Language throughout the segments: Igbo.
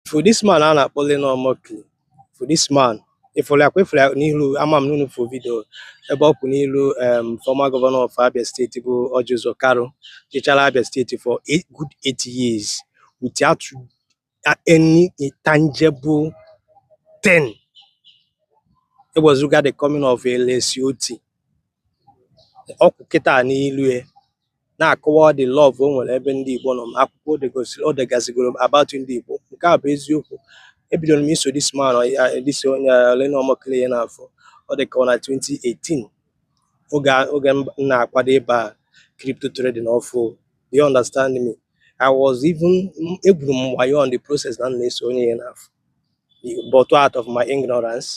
ị fụ this man a na-akpọ Reno Omokri fụ this man ị fụrụ ya kwa ị fụrụ ya n'ilu ama m n'unu fụ video ebe ọ kwụ n'ilu um, former governor of Abia State bụ Orji Uzor Kalu chịchara Abia State for eight, good eight years without any tangible thing ewezụga the coming of Alex Otti ọ kwụ kịta n'ilu ya na-akọwa ụdị love o nwere ebe ndị Igbo nọ ma akwụkwọ o degasịgoro about ndị Igbo nke a bụ eziokwu ebidoro m iso this man this onye Reno Omokri ya n'afọ ọ dị ka ọ na 2018 oge oge m na-akwado ịba crypto trading ọfụ do you understand me I was even egwuru m wayo on the process na m na-eso onye ya n'afọ but out of my ignorance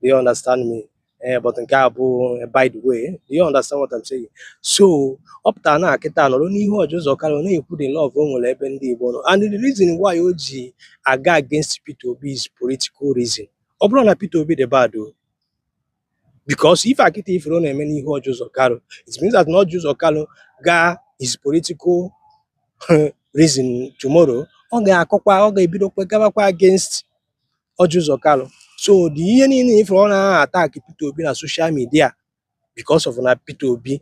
do you understand me ee eh, but nke a bụ eh, by the way do you understand what I'm saying so ọ pụtara na kịta nọrọ n'ihu Orji Uzor Kalu ọ na-ekwu the love o nwere ebe ndị Igbo nọ and the reason why o ji aga against Peter Obi is political reason ọ bụrọ na Peter Obi dị bad o because ife a kịta ị fụrụ ọ na-eme n'ihu Orji Uzor Kalu it means that na Orji Uzor Kalu gaa his political reason tomorrow ọ ga-akọkwa ọ ga-ebidokwa gabakwa against Orji Uzor Kalu so dị ihe niile ị fụrụ ọ na-aha attack Peter Obi na social midia because of na Peter Obi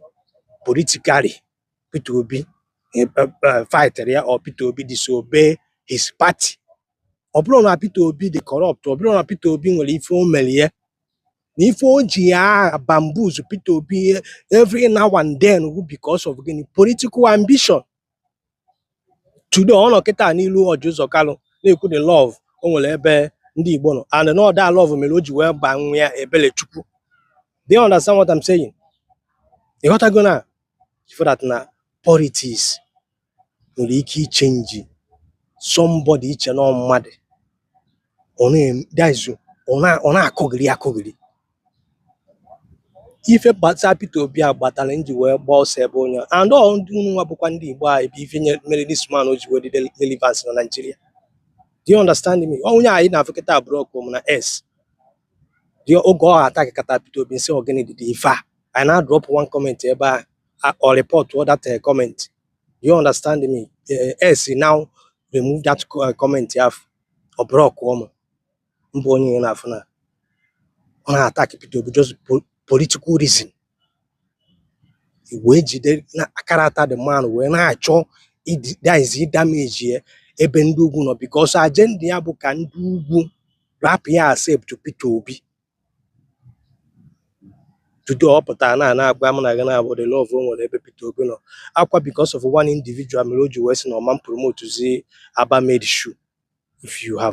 politically Peter Obi eh, eh, eh, fightịrị ya or Peter Obi disobey his party ọ bụrọ na Peter Obi dị corrupt ọ bụrọ na Peter Obi nwere ife o mere ya na ife o ji ya aha bamboozle Peter Obi every now and then because of gịnị political ambition today ọ nọ kịta n'ilu Orji Uzor Kalu na-ekwu the love o nwere ebe ndị Igbo nọ and na ọ that love mere o ji wee baa nwa ya Ebelechukwu do you understand what I'm saying ị ghọtago na ị fụ that na politics nwere ike ichenji somebody i chee na mmadụ ọ na-akọgheri akọgheri ife kpata Peter Obi a kpatara m ji wee gbaa ọsọ ebe onye and ọ ndị unu nwa bụkwa ndị Igbo anyị bụ ife mere this man o ji wee dị relevance na Nigeria do you understand me onye anyị na-afụ kịta ablockụ m na X dị oge ọ attackkata Peter Obi m sị ọ gịnị dị ife a I now drop one comment ebe a ọ reportọ that eh, comment do you understand me eh, X now remove that eh, comment afụ ọ blockụọ m mbụ onye ị na-afụ na ọ na-attack Peter Obi just political reason wee jide na character the man wee na-achọzi ịdamage ya ebe ndị ugwu nọ because agenda ya bụ ka ndị ugwu rapụ ịaccept Peter Obi tutu ọ pụtara na na-agwa m na gị na-abụ the love o nwere ebe Peter Obi nọ akwa because of one individual mere o ji wee sị na ọ ma promotezi Aba made shoe if you have